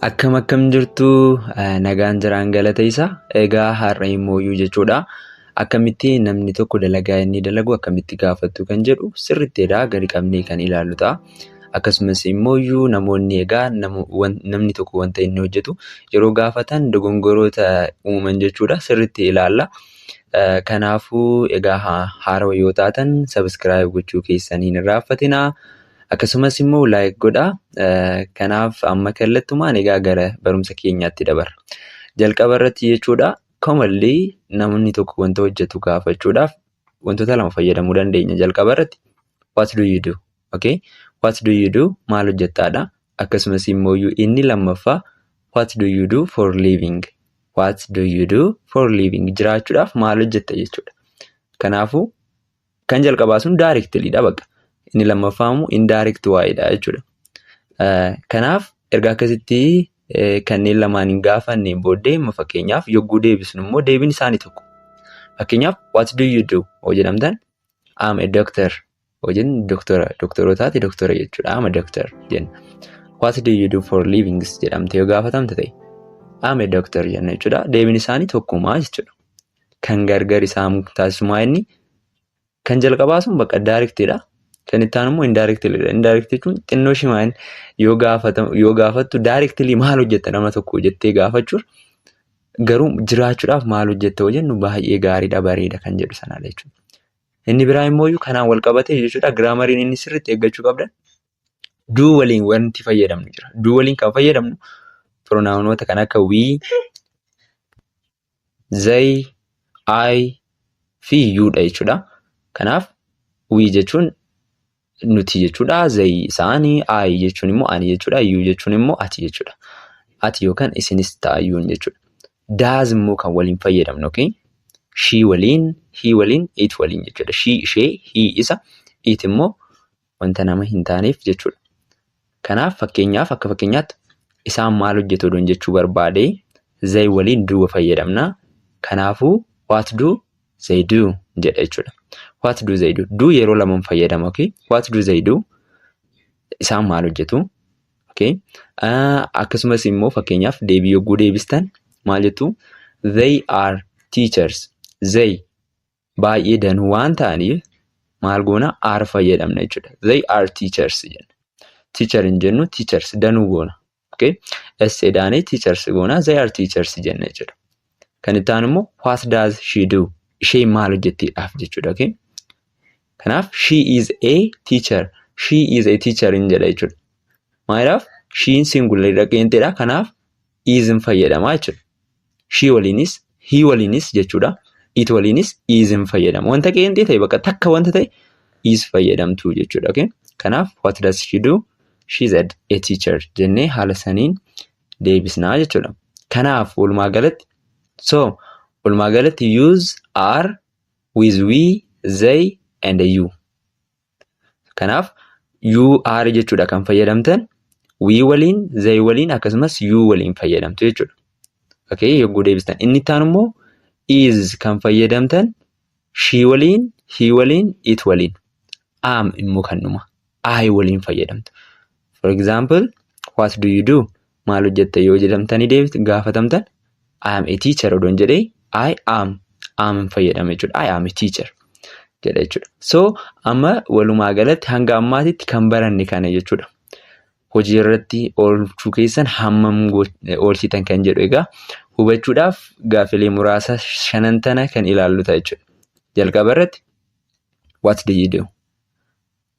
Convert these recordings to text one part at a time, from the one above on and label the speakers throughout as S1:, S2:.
S1: Akkam akkam jirtu nagaan jiraan galata isa egaa har'a immoo jechuudha. Akkamitti namni tokko dalagaa inni dalagu akkamitti gaafattu kan jedhu sirriitti edaa gadi qabnee kan ilaallu ta'a. Akkasumas immoo iyyuu namoonni egaa namni tokko wanta inni hojjetu yeroo gaafatan dogongoroota uumaman jechuudha sirritti ilaalla. Kanaafuu egaa haarawa yoo taatan sabiskiraayib gochuu keessan hin irraanfatinaa. Akkasumas immoo laayik godha. Kanaaf amma kallattumaan egaa gara barumsa keenyaatti dabarra. Jalqaba irratti jechuudha commonly namni tokko wanta hojjetu gaafachuudhaaf wantoota lama fayyadamuu dandeenya jalqaba irratti. what do you do okay what do you do maal hojjettaadha akkasumas immoo inni lammaffaa what do you do for living what do you do for living jiraachuudhaaf maal hojjetta jechuudha kanaafuu kan jalqabaa sun daarektiliidha bakka inni lammaffaa immoo indaarekt waa'eedha jechuudha kanaaf erga akkasitti kanneen lamaan hin gaafanneen booddee immoo fakkeenyaaf yogguu deebisnu immoo deebiin isaanii tokko fakkeenyaaf what do you do yoo jedhamtan I'm a doctor. Hojiin doktora. Doktorootaati doktora jechuudha. I'm a doctor jenna. What do you do for livings jedhamte yoo gaafatamte ta'e. I'm a doctor jenna jechuudha. Deebiin isaanii tokkumaa jechuudha. Kan gargar isaan taasisumaa inni kan jalqabaa sun bakka daariktiidha. Kan itti aanu immoo indaariktiidha. Indaariktii jechuun xinnoo shimaan yoo gaafattu daariktilii maal hojjetta nama tokko jettee gaafachuun Garuu jiraachuudhaaf maal hojjetta yoo jennu baay'ee gaariidha bareeda kan jedhu sanadha jechuudha. Inni biraa immoo kanaan wal qabatee jechuudha giraamariin inni sirriitti eeggachuu qabdan duu waliin wanti fayyadamnu jira. Duu waliin kan fayyadamnu piroonaawunoota kan akka wii, zay, ay fi yuudha jechuudha. Kanaaf wii jechuun nuti jechuudha zayi isaani ayi jechuun immoo ani jechuudha yuu jechuun immoo ati jechuudha ati yookaan isinis ta'a yuun jechuudha daaz immoo kan waliin fayyadamnu okay shii waliin hii waliin it waliin jechuudha shii ishee hii isa it immoo wanta nama hin taaneef jechuudha Kanaaf fakkeenyaaf akka fakkeenyaatti isaan maal hojjetu odoon jechuu barbaade they waliin do fayyadamna. Kanaafuu what do they do jedha jechuudha. What do they do? Do yeroo lamaan fayyadama. Okay? What do they do? Isaan maal hojjetu? Okay? Uh, akkasumas immoo fakkeenyaaf deebii yogguu deebistan maal jettu? They are teachers. They baay'ee danuu waan ta'aniif maal goona are fayyadamna jechuudha. They are teachers jenna. Teacher hin jennu teachers danuu goona. Okay? S jedhaanii teachers goona they are teachers jenna jechuudha. Kan itti aanu immoo what does she do? Isheen maal hojjettiidhaaf jechuudha. Okay? Kanaaf she is a teacher. She is a teacher hin jedha jechuudha. Maaliidhaaf? Shiin singular dhaqeenteedha. Kanaaf iizin fayyadama jechuudha. Shii waliinis hii waliinis jechuudha. It waliinis iizin fayyadama. Wanta qeenxee ta'e bakka takka wanta ta'e iis fayyadamtu jechuudha. Okay? Kanaaf what does she do? She is a, a teacher jennee haala saniin deebisnaa jechuudha. Kanaaf walumaa galatti so walumaa galatti use are with we they and you. Kanaaf you are jechuudha kan fayyadamtan we waliin they waliin akkasumas you waliin fayyadamtu jechuudha. Okay yogguu deebistan inni itti aanu immoo is kan fayyadamtan she waliin he waliin it waliin am immoo kan dhuma I waliin fayyadamtu. For example what do you do? maal hojjetta yoo jedhamtanii deebit gaafatamtan I am a teacher odoon jedhee I am am hin fayyadame jechuudha. I am a teacher jedha jechuudha. So amma walumaa galatti hanga ammaatitti kan baranne kana jechuudha. Hojii irratti oolchuu keessan hammam oolchitan kan jedhu egaa hubachuudhaaf gaafilee muraasa shanan tana kan ilaallu ta'a jechuudha. Jalqaba irratti what did you do?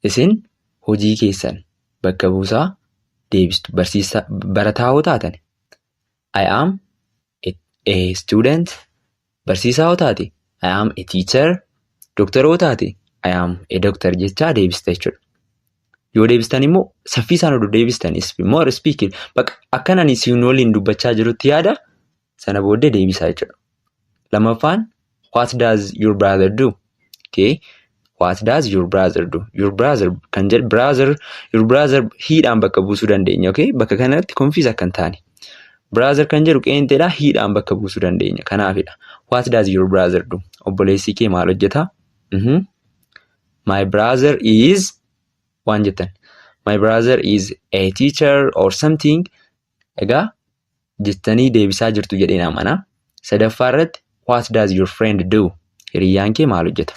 S1: Isin hojii keessan bakka buusaa deebistu. Barsiisaa barataa hoo taatani I am a, a student. Barsiisaa hoo taate I am a teacher. Doktora hoo taate I am a doctor jechaa deebista jechuudha. Yoo deebistan immoo saffiisaan oduu deebistan is more speaking. Bakka akkan ani siin waliin dubbachaa jirutti yaada sana booddee deebisaa jechuudha. Lammaffaan what does your brother do? Okay. What does your brother do? Your brother kan jedhu brother your brother hiidhaan bakka buusuu dandeenya. Okay. Bakka kanatti confuse akka hin taane. Brother kan jedhu qeenxeedha hiidhaan bakka buusuu dandeenya. Kanaafidha. What does your brother do? Obboleessi kee maal hojjeta? Mhm. My brother is waan jettan. My brother is a teacher or something. Egaa jettanii deebisaa jirtu jedheen amana. Sadaffaa irratti what does your friend do? Hiriyyaan kee maal hojjeta?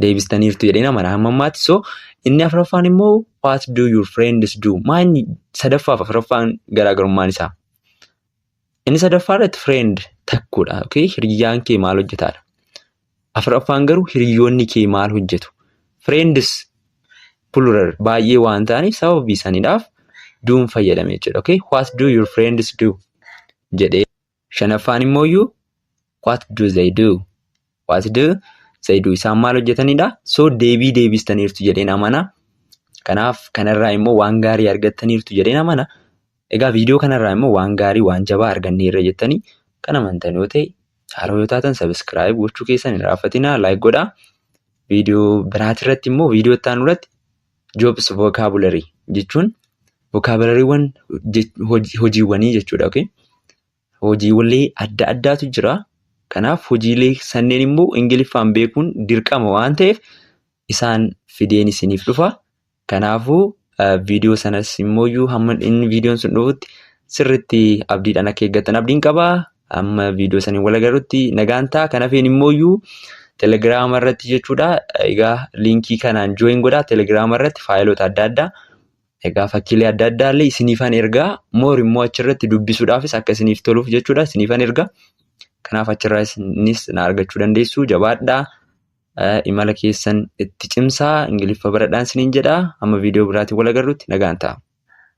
S1: Deebistaniirtu jedheen amana hamma ammaatti. So inni afuraffaan immoo what do your friends do? Maa inni sadaffaaf afuraffaan garaagarummaan isaa? Inni sadaffaa irratti friend takkuudha. Okay? Hiriyyaan kee maal hojjetaadha? Afraffaan garuu hiriyoonni kee maal hojjetu? Friends plural baay'ee waan ta'aniif sababii saniidhaaf do'n fayyadame jechuudha. Okay? What do your friends do? jedhee. Shanaffaan immoo iyyuu what do they do? What do they do? Isaan maal hojjetaniidha? So deebii deebistaniirtu jedheen amana. Kanaaf kanarraa immoo waan gaarii argattaniirtu jedheen amana. Egaa viidiyoo kanarraa immoo waan gaarii waan jabaa arganneerra jettanii kan amantan yoo ta'e chaaroo yoo taatan sabiskiraayib gochuu keessan hin raaffatinaa laayik godhaa. Viidiyoo biraatirratti immoo viidiyoo itti aanu irratti jobs vokaabularii jechuun vokaabulariiwwan hojiiwwanii jechuudha. Okay? Hojiiwwalee adda addaatu jira. Kanaaf hojiilee sanneen immoo ingiliffaan beekuun dirqama waan ta'eef isaan fideen isiniif dhufa. Kanaafuu viidiyoo sanas immooyyuu hamma inni viidiyoon sun dhufutti sirriitti abdiidhaan akka eeggattan abdiin qaba. Amma viidiyoo saniin wal agarrutti nagaan ta'a. Kan hafeen immooyyuu telegiraama irratti jechuudha. Egaa liinkii kanaan jooyin godhaa telegiraama irratti faayiloota adda addaa. Egaa fakkiilee adda addaa illee isiniifan ergaa moor immoo achirratti dubbisuudhaafis akka isiniif toluuf jechuudha isiniifan ergaa. Kanaaf achirraa isinis na argachuu dandeessu jabaadhaa. Imala keessan itti cimsaa ingiliffa baradhaan siniin jedha. Amma viidiyoo biraatiin wal agarrutti nagaan ta'a.